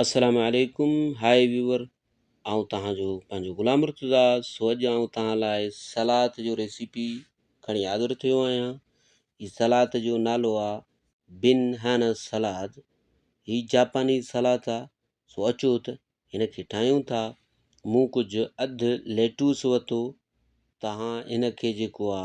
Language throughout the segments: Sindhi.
السلام عليڪم هاء ويور آئون توهان جو پنهنجو غلام مرتضا سو اڄ آئون توهان لاء سلاد جو ريسيپي کڻي حاضر ٿيو آهيان هي سلاد جو نالو آ بن هانا سلاد هي جاپاني سلاد آ سو اچو ته هن کي ٺاهيون ٿا مون ڪجهه اڌ ليٽوس وتو توهان هن کي جيڪو آ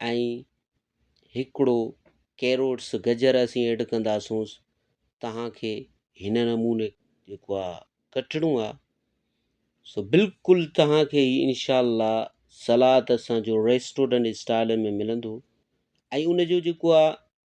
۽ هڪڙو ڪيروٽس گجر اسين ايڊ ڪنداسونس توهان کي هن نموني جيڪو آ ڪٽڻو آ سو بلڪل توهان کي هي انشاء الله سلاد اسان جو ريسٽورنٽ اسٽائل ۾ ملندو ۽ ان جو جيڪو آ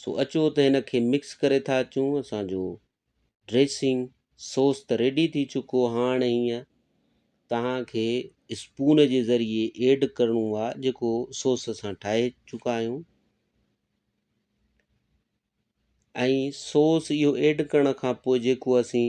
سو اچو ته هن کي مڪس ڪري ٿا اچون اسان جو ڊريسنگ سوس ته ريڊي ٿي چڪو هاڻ هينئن توهان کي اسپون جي ذريعي ايڊ ڪرڻو آ جيڪو سوس اسان ٺاهي چڪا آهيون ۽ سوس اهو ايڊ ڪرڻ کان پوء جيڪو اسين